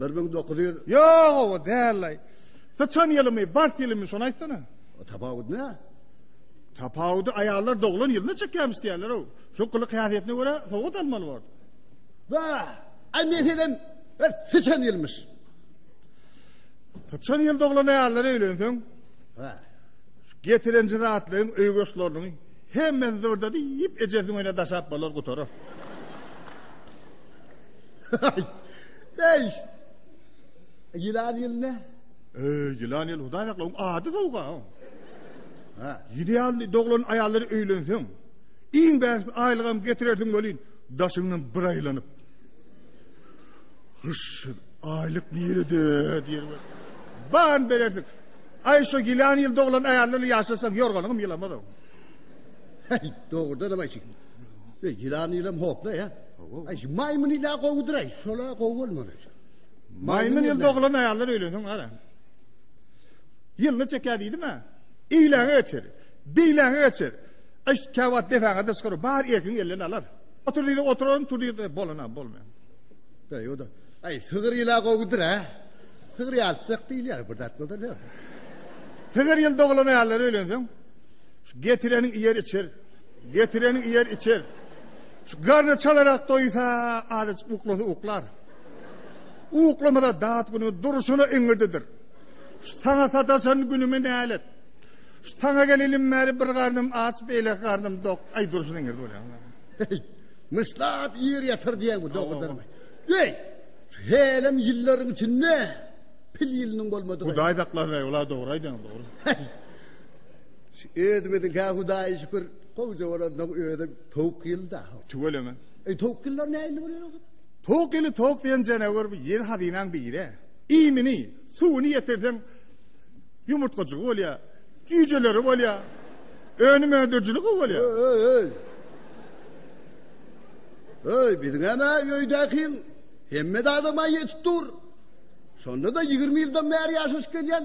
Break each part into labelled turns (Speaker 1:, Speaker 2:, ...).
Speaker 1: Bir müň
Speaker 2: dokuz ýüz. Ýok, owa
Speaker 1: dällaý. Syçan ýylymy, bars ýylymy şony aýtsana. Tapawut ne?
Speaker 2: Tapawudy
Speaker 1: aýallar doglan ýylda çekýämiş diýýärler ow. Şu gylyk häsiýetine görä sowgat almaly bor. Ba,
Speaker 2: ay men sizden syçan ýylmyş.
Speaker 1: Syçan ýyl doglan aýallar öýlenseň, ha.
Speaker 2: Şu getirenji
Speaker 1: zatlaryň öý goşlaryny hemmesi zırdady, ýip ejesini öýne daşap bolar gutarar.
Speaker 2: Eý! Ýylan ýyl ne? Eý, ýylan
Speaker 1: ýyl hudaý sakla, oň ady sowga.
Speaker 2: Ha, idealny
Speaker 1: doglan aýallary öýlenseň, iň bähbit aýlygam getirersiň welin, daşyňdan bir aýlanyp. Hyş, aýlyk nirede diýer. Ban bererdik. Aý şu ýylan ýyl doglan aýallar ýaşasaň ýorganyňam ýylamaz o.
Speaker 2: Hey, dogrudan hem aýşyk. E, ýylan ýylam hopla, ýa. Aý, şu maýmyn ýyla gowudyr, aý, şola gowy bolmaly. Maýmyn
Speaker 1: ýyl doglan aýallar öýlensin, gara. Ýylyny çekä diýdim-ä. Eýläňe geçer. Beýläňe geçer. Aý, şu käwagt depäňe de çykyr, bar erkiň elden alar. Otur diýdi, oturan, tur diýdi, e, bolan-a, bolmaýan. Be, ýoda.
Speaker 2: Aý, sygyr ýyla gowudyr, a. Sygyr ýalçak diýilýär, bir zat bolsa, ýa. Sygyr
Speaker 1: ýyl doglan aýallar öýlensin. Şu getireniň iýer içer. Getireni iýer, içer. Şu garny çalarak doýsa, azajyk uklasa uklar. Uklamasa dat güni durşuna iňirdidir. Şu saňa sataşan günümi nälet. Şu saňa gelenim bäri bir garnym aç, beýle garnym dok. Aý durşuna iňirdi bolýar.
Speaker 2: Myşlap ýer ýatyr diýen bu dogrudan. Ey! Helim ýyllaryň içinde pil ýylynyň bolmadygy. Hudaý saklasy, ola
Speaker 1: dogry aýdýaň, dogry. Şu
Speaker 2: özümiziň kä hudaýa şükür gowja bolandyk özi towuk ýylda. Tüweleme. E
Speaker 1: towuk ýyllar
Speaker 2: nähili bolýar o zaman? Towuk ýyly
Speaker 1: towuk diýen jenewar bu ýer hazynaň biri. Iýmini, suwuny ýetirseň ýumurtgajygy bolýar, jüýjeleri bolýar. Önüm öndürijiligi bolýar. Öý, öý. Öý, biziňem
Speaker 2: öýdäkiň hemme zada maý ýetip dur. Şonda-da ýigrimi ýyldan bäri ýaşaşyp gelýän.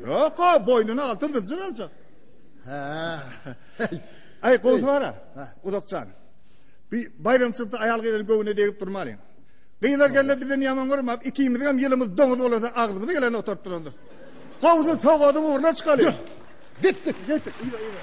Speaker 2: Ýok-a,
Speaker 1: boýnuna altyn zynjyr aljak.
Speaker 2: Hä.
Speaker 1: Aý, gowsara. Uzakjan. Bi baýramçylykda aýal-gyzyň göwnüne degip durmalyň. Gyzlar geldi bizden ýaman görmap, ikimiziň hem ýylymyz doňuz bolasa, agzymyzy gelende oturyp durandyrys. Gowsy sogadyň ugruna çykalyň. Gitdik, gitdik. Ýa, ýa.